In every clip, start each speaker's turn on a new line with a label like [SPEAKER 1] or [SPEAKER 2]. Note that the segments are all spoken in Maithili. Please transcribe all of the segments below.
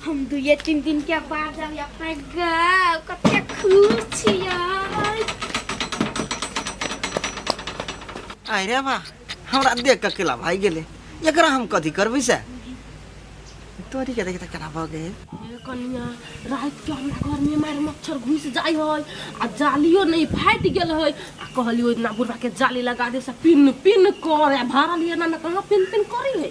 [SPEAKER 1] हम दुए तीन दिन के बाद जाब
[SPEAKER 2] अपना गाँव कते खुश छियै अरे बा हमरा देख के केला भाई गेले एकरा हम कथी करबै से तोरी के देख त केना भऽ गेल हे कनिया
[SPEAKER 3] रात के हमरा घर में मार मच्छर घुस जाय होय आ जालियो नहीं फाट गेल होय आ कहलियो इतना बुढ़वा के जाली लगा दे से पिन पिन करे आ भरल ये ना ना कहाँ पिन पिन करी है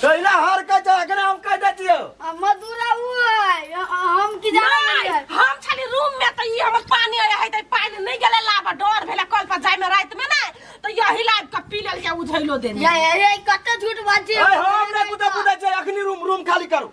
[SPEAKER 2] कैला हर के जागना हम कह देतियो आ मधुरा उ
[SPEAKER 1] है अ- अ- हम की जाने नहीं, रहियै। हम छली रूम
[SPEAKER 3] में त ई हमर पानी आया है त पानी नहीं गेले लाबा डर भेले कल पर जाय में रात में ना त यही लाइव का पी लेल के उझैलो देने या या या, ई कते
[SPEAKER 1] झूठ बात छै ए हम ने कुदा
[SPEAKER 2] कुदा जे अखनी रूम रूम खाली करू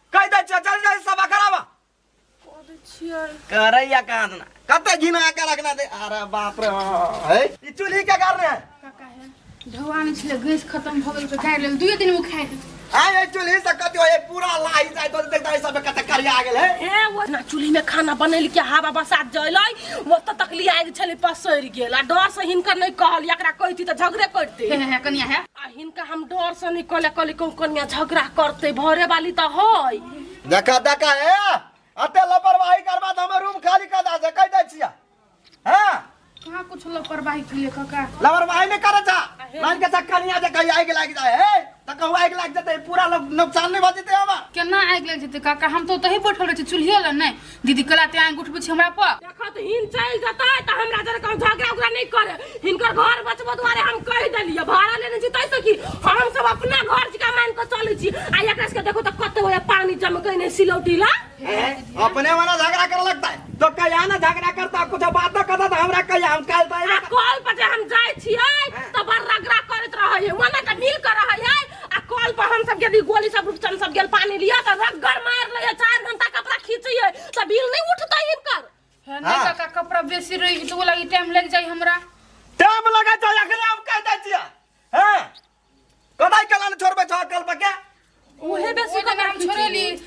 [SPEAKER 2] कहि दै छियै जल्दी जल्दी सभा कराबा कऽ दै छियै करैया कहाँ देना कते घिना के रखना दे अरे बाप रे है ई चूल्ही के कारण है काका
[SPEAKER 4] हे धुआ नहि छलै गैस खतम भऽ गेल तऽ गाड़ि लेल दुइए दिनमे खाइ देब आय ए चूल्ही से
[SPEAKER 2] कति होय पूरा लाही जाय तो देख दे सब कते करिया आ गेल है ए वो ना चूल्ही में
[SPEAKER 3] खाना बनल के हवा बसात जलै वो तो तकली आगि छलै पसरि गेल आ डर से हिनकर नहि कहल एकरा कहिती तऽ झगड़े करिते हे हे हे कनिया हे आ
[SPEAKER 4] हिनका हम डर
[SPEAKER 3] से निकले कली कौन कनिया झगड़ा करते भरे वाली तो है देखा देखा
[SPEAKER 2] ए अते लापरवाही करबा त हमर रूम खाली कर दा से कह दै छिया हां कहाँ कुछ
[SPEAKER 4] लापरवाही के लिए काका लापरवाही नहीं करे छा
[SPEAKER 2] मान के चक्कर नहीं आ जा कहीं आग लाग जाए हे त कहू आग लाग जाते पूरा लोग नुकसान नहीं भ जते हमर केना आगि लागि जेतै
[SPEAKER 4] काका हम तो ओतही बैठल रहै छी चूल्हे लग नहि दीदी कला ते आंगूठ बुझ हमरा पर देखो तो हिन चल
[SPEAKER 3] जता त हमरा जरे कहू झगड़ा उगड़ा नहीं करे हिनकर घर बचबो द्वारे हम कह देलिए भाड़ा लेने छी तै से की हम सब अपना घर जिका मान के चलै छी आ एकरा के देखो त कत होय पानी जम के नहीं सिलौटी ला हैं? अपने वाला
[SPEAKER 2] झगड़ा करे लगता है तो कहिया ना झगड़ा करता कुछ बात तो करता तो हमरा कहिया हम काल तो आ अइबे कॉल पर जे हम जाय
[SPEAKER 3] छियै त बड़ रगड़ा करत रहै है मने त मिल के रहै है आ कल पर हम सब गेली गोली सब रूपचन सब गेल पानी लिया त रगड़ मार ले 4 घंटा कपड़ा खींचिए त बिल नहीं उठता इनकर है नहीं हाँ। काका
[SPEAKER 4] कपड़ा बेसी रही तो लगी टाइम लग जाई हमरा टाइम लगा
[SPEAKER 2] जाए अखरे हम कह दे छिया हैं कदाई कला ने छोड़बे छ कल पर के उहे बेसी
[SPEAKER 4] तो हम छोड़ेली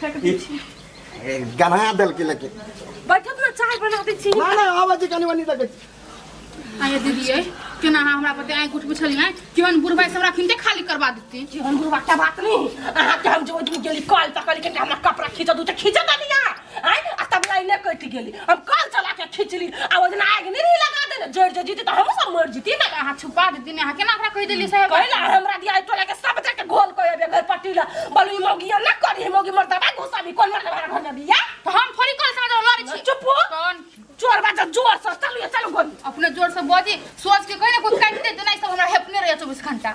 [SPEAKER 4] फेंक दै छी ए,
[SPEAKER 2] गना देल के लेके बैठब ना चाय
[SPEAKER 3] बना दै छी ना ना आवा जे कनी
[SPEAKER 2] वनी तक आये
[SPEAKER 4] दीदी ये केना अहाँ हमरा पर आँखि उठबै छलियै केहन बुढ़बाइ से हमरा खिनते खाली करबा देती जीवन गुरु बाटा बात
[SPEAKER 3] नहीं अहाँ के हम जो दिन गेली कॉल तक लेकिन हमरा कपड़ा खींच दू तो खींच दलिया आय आ तब लाइने कट गेली हम कल चला के खिचली आ ओजना आग नहीं लगा देने जड़ जड़ जीती तो हम सब मर जीती ना अहाँ छुपा देती ने अहाँ
[SPEAKER 4] केना ओकरा कहि देलियै साहेब कहला हमरा दिया टोला
[SPEAKER 3] के सब जगह घोल कोई अबे घर पट्टी ला बोलू ई मौगी ना करी ई मौगी मरता बा घुसा भी कोन मरता घर में बिया तो हम थोड़ी कल
[SPEAKER 4] समझ लड़ छी चुप हो कौन
[SPEAKER 3] चोर
[SPEAKER 4] बाजा जोर
[SPEAKER 3] से चलू चलू गोली अपने जोर से बजी
[SPEAKER 4] सोच के कहि ने कुछ काटि दे देना ई सब हमरा हेपने रहै 24 घंटा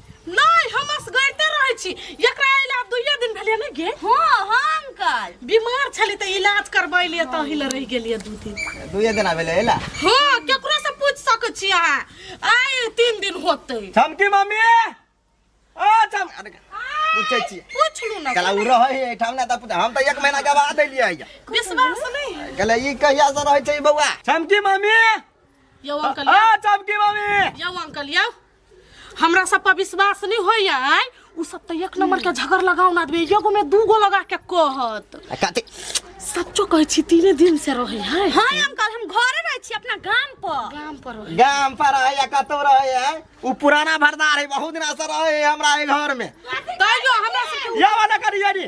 [SPEAKER 2] नहि हम
[SPEAKER 3] असगरते रहै छी एकरा अइला आब दुइये दिन भेलै ने गे हाँ हाँ अंकल बीमार छली तऽ इलाज करबै लिए तऽ हिल रहि गेलिए दू दिन दुइये दिन भेलै अइला
[SPEAKER 2] हाँ केकरो से
[SPEAKER 3] पूछ सकै छी अहाँ आइ तीन दिन होतै चमकी मम्मी
[SPEAKER 2] ओ चम अरे पूछै छी पूछलू ना कला उ
[SPEAKER 3] रहै है ठाम
[SPEAKER 2] ना तऽ हम तऽ एक महीना के बाद एलियै है विश्वास नहीं
[SPEAKER 3] है कला ई कहिया से
[SPEAKER 2] रहै छै बौआ चमकी मम्मी यो
[SPEAKER 3] अंकल ओ चमकी मम्मी
[SPEAKER 2] यो अंकल यो
[SPEAKER 3] हमरा सब पर विश्वास नहीं होय है उ सब तो एक नंबर के झगड़ लगाउन आदमी एगो में दू गो लगा के कहत आ कथी
[SPEAKER 2] सच्चो कहै
[SPEAKER 3] छी तीने दिन से रहै है हाँ अंकल हम घरे
[SPEAKER 1] रहे छी अपना गाम पर काम पर रहै। गाम पर रहे या
[SPEAKER 2] कतौ रहे है उ पुराना भरदार है बहुत दिना से रहे है हमरा ए घर में तैयो हमरा
[SPEAKER 3] सब या वाला करिया रे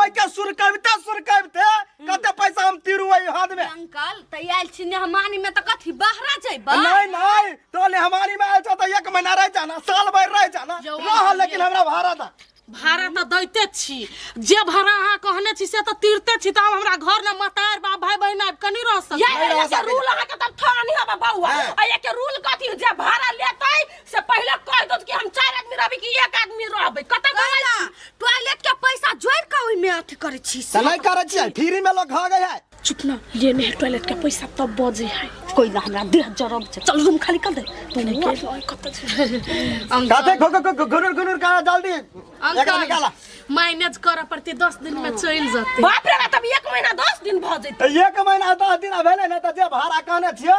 [SPEAKER 2] ओइ के सुर कविते सुर कविते कते पैसा हम तिरु ओइ हाथ में अंकल त आयल छी
[SPEAKER 1] ने हमानी में त कथी बहरा जइबा नहीं नहीं तो
[SPEAKER 2] ले हमारी में आयल छ त एक महीना रह जाना साल भर रह जाना जो रह आयल लेकिन हमरा भाड़ा दा भाड़ा त दैते
[SPEAKER 3] छी जे भाड़ा अहाँ कहने छी से त तिरते छी त आब हमरा घर न मतार बाप भाई बहिन आबि कनी रह सकै ये नहीं रह ये सकै। रूल अहाँ के तब थोड़ा नहीं हबा बउआ हाँ। आ ये के रूल कथी जे भाड़ा लेतै से पहिले कह दो कि हम चार आदमी रहबी कि एक आदमी रहबै कतै कहै छी टॉयलेट के पैसा
[SPEAKER 1] जोड़ के ओइ में अथी करे छी से। त नहीं करे छी फ्री
[SPEAKER 2] में लोग खा गए है चुप ना ये नहीं
[SPEAKER 3] टॉयलेट के पैसा तब बजे है कोई ना हमरा देह जरब छै। चल रूम खाली कर दे तू नहीं के लॉय कत छै काते
[SPEAKER 2] खो खो खो गुनुर गुनुर का डाल दी एकरा निकाला अंकल मैनेज करे
[SPEAKER 3] पड़ते दस दिन में चल जाते बाप रे तब एक महीना दस दिन भ जेतै त एक महीना दस दिन
[SPEAKER 2] भेले न त जे भाड़ा कहने छियो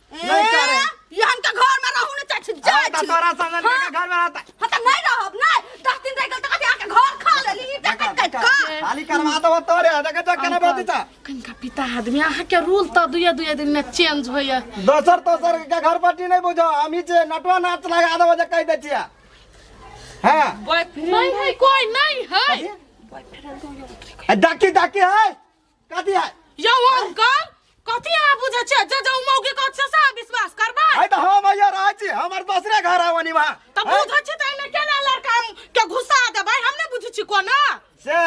[SPEAKER 3] नहीं
[SPEAKER 2] करे ये हमके घर
[SPEAKER 1] में रहू ने चाची जा अरे तो तोरा
[SPEAKER 2] समझ के घर में
[SPEAKER 1] रहता हम त नहीं रहब ना दस दिन रह गेल त कभी आके
[SPEAKER 2] घर खा लेली ई जा कट कट का खाली करवा दो तोरे देखे तो केना बात था कनका पिता
[SPEAKER 3] आदमी अहाँ के रूल त दुए दुए दिन में चेंज होइए दोसर तोसर
[SPEAKER 2] के घर पट्टी नहीं बुझो हम ही जे नटवा नाच लगा दो जे कह दे छिया हां नहीं
[SPEAKER 3] है कोई नहीं है डाकी डाकी है
[SPEAKER 2] कथी है यौ अंकल
[SPEAKER 3] कथी अहाँ बुझै छियै जे जे मौगी कहत से सएह विश्वास करबै है तो हम आइयो रहै
[SPEAKER 2] छी हमर दोसरे घर आउ अनिमा तऽ बुझै छी तऽ एहिमे
[SPEAKER 3] केना लड़का हम के घुसा देबै हम नहि बुझै छी कोना से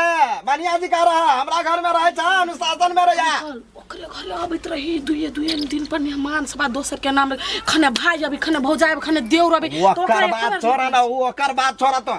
[SPEAKER 2] बढ़िया जी कह रहा हमरा घर में रहे छा अनुशासन में रहे अंकल, ओकरे घरे
[SPEAKER 3] अबैत रही दुए दुए दिन पर मेहमान सब आ दोसर के नाम रहे। खने भाय अभी खने भौजाय अभी खने देउर अभी तऽ ओकरा ओकर एकर बात छोड़ा
[SPEAKER 2] ना वो ओकर बात छोड़ा
[SPEAKER 3] तो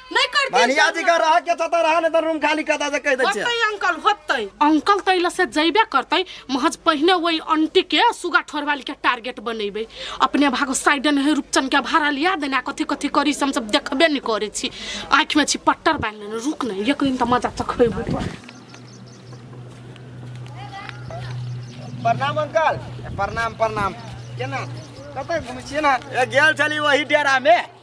[SPEAKER 3] नहीं करती मानिया जी का रहा के
[SPEAKER 2] तता रहा ने त रूम खाली कता से कह दे छै होतै अंकल होतै
[SPEAKER 3] अंकल त इला से जइबे करतै महज पहिने वही आंटी के सुगा ठोरवाली के टारगेट बनेबै अपने भागो साइडन है रूपचन के भाड़ा लिया देना कथी कथी करी से हम सब देखबे नहीं करे छी आंख में छी पट्टर बांध लेने रुक नहीं एक दिन त मजा चखबै प्रणाम अंकल प्रणाम प्रणाम केना
[SPEAKER 2] कतय घुमै छियै ना ए गेल छली वही डेरा में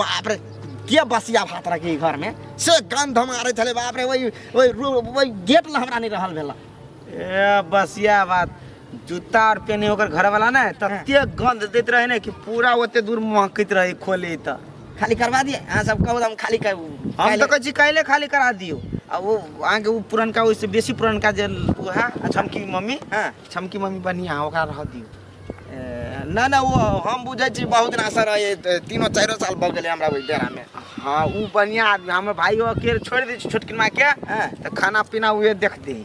[SPEAKER 2] बाप रे के बसिया भात रखी घर में से गंध मारे छले बाप रे वही वही रू- वही गेट ला हमरा नहीं रहल भेला ए
[SPEAKER 5] बसिया बात जूता और पेने ओकर घर वाला ना तते गंध देत रहे ना कि पूरा ओते दूर महकत रहे खोले त खाली करवा दिए
[SPEAKER 2] अहाँ सब कहू हम खाली कर हम तो कहै छी काल्हे
[SPEAKER 5] खाली करा दियो आ वो अहाँके उ पुरनका ओहिसे बेसी पुरनका जे उहे आ छमकी मम्मी हाँ छमकी मम्मी
[SPEAKER 2] बढ़िया
[SPEAKER 5] ओकरा रह दियो
[SPEAKER 2] नहि नहि ओ हम बुझै छी बहुत दिन असर रहै तीनो चारिओ साल भऽ गेलै हमरा ओहि डेरामे हँ ओ बढ़िआँ
[SPEAKER 5] आदमी हमर भाइयो अकेले छोड़ि दै छी छोटकी मायके हँ तऽ खाना पीना उहे देखती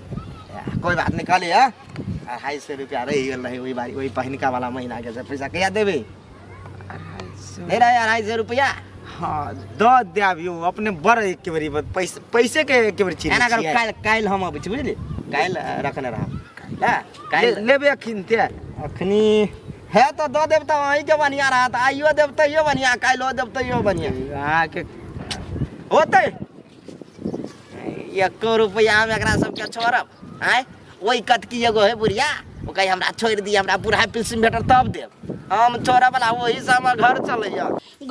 [SPEAKER 5] कोइ बात
[SPEAKER 2] नहि कहली हँ अढ़ाइ सए रुपैआ रहि गेल रहै ओहि बारी ओहि पहिनका वाला महीनाके से पैसा कहिया देबै अढ़ाई सौ दे रहा है अढ़ाई सौ रुपया हाँ दऽ
[SPEAKER 5] देब यौ अपने बड़ एक बेरी बत- पैसे पैसे के एक बेरी चीज एना करू काल्हि काल्हि
[SPEAKER 2] हम
[SPEAKER 5] अबै
[SPEAKER 2] छी बुझलियै काल्हि अ, रखने रहब हँ काल्हि लेबे अखन ते
[SPEAKER 5] अखनी
[SPEAKER 2] हे तऽ दऽ देब तऽ अहीँके बढ़िआँ रहत आइयो देब तैयो बढ़िआँ काल्हिओ देब तैयो बढ़िआँ अहाँके
[SPEAKER 5] होतै
[SPEAKER 2] एको रुपैआ हम एकरा सबके छोड़ब आँय ओहि कतकी एगो है बुढ़िया ओ कहे हमरा छोड़ि दिअ हमरा बुढ़ाइ पेंशन भेटत तब देब हम छोड़ब बला ओही से हमर घर चलैया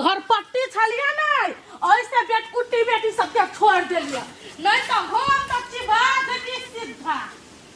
[SPEAKER 2] घरपट्टी
[SPEAKER 3] छलियै ने ओहिसँ बेटकुट्टी बेटी सबके छोड़ि देलियै नहि तऽ हम तऽ चिबा देती सीधा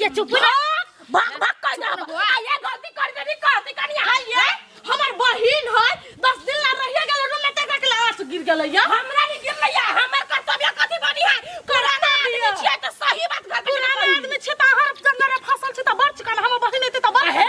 [SPEAKER 3] ये चुप ना भाग भाग कर ना आ ये गलती कर दे नी कर दी कनिया हाय ये हमर बहिन है 10 दिन ला रहिए गेल रूम में टका के लाश गिर गेल या हमरा नहीं गिर लैया हमर कर्तव्य कथी बनी है पुराना आदमी छिए त सही बात घर पुराना आदमी छिए त हर जंगल में फसल छिए त बड़ चिकन हमर बहिन एते त बड़ है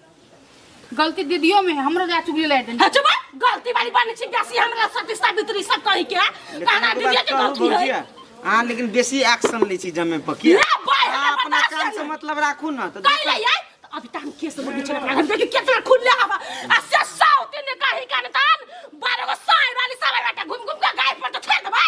[SPEAKER 4] गलती दीदियों में है हमरो जा चुगली लाइट देनी हाँ, चुप है। गलती वाली
[SPEAKER 3] बने छी बेसी हमरा सती सावित्री सब कहि के कहना दीजिए के गलती है अहाँ लेकिन बेसी
[SPEAKER 5] एक्शन लै छी जमे पर की ले भाई अहाँ हमरा अपना बर्दाश्त काम से करिए। मतलब राखू ने तऽ कहि देखबै। रहियै तऽ अभी
[SPEAKER 3] तहन केस लगे छै अपना घर देखि केतना खुलले हवा आ से साउती ने कहि कान तान बारह गो साँइ वाली सब बेटा घुम घुम के गाय पर तऽ छोड़ देबै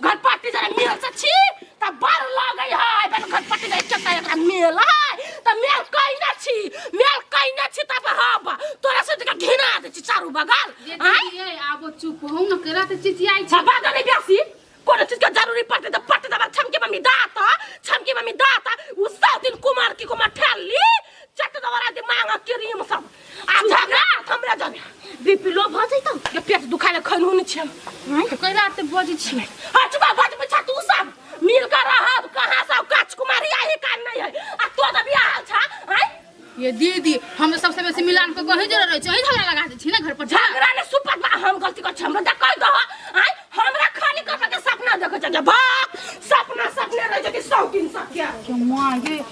[SPEAKER 3] घटपट्टी जरा मेल से छी त बड़ लगै है बन घटपट्टी जाय के त एकरा मेल है त मेल कहि न छी मेल कहि न छी तब हब तोरा से तका घिना दे छी चारू बगल आय दीदी ए, आबो
[SPEAKER 4] चुप हो न केरा त चिचियाइ छ छबा गले बेसी
[SPEAKER 3] कोनो चीज के जरूरी पड़ते त पट्टी दबा छमके मम्मी दाता छमके मम्मी दाता उ सब दिन कुमार की कुमार ठेल ली चट दबरा दे मांग क्रीम सब आ झगड़ा हमरा जब बीपी लो भ जइतो जे पेट दुखाले खैन होने छै कैला ते
[SPEAKER 4] बजै छी हटबा बट पछा
[SPEAKER 3] तू सब मिल कर रहब कहां सब काच कुमारी आही कान नहीं है आ तो त बियाह हाल छा हैं ये दीदी
[SPEAKER 4] हम तो सबसे बेसी मिलान को कहीं जरूर रहे छी झगड़ा लगा दे छी ना घर पर जा झगड़ा ने सुपत बा
[SPEAKER 3] हम गलती कर छी हमरा त कह दो हैं हमरा खाली कर के सपना देखै छै जे भाग सपना सपने रह जति सौ दिन सत्या के मां ये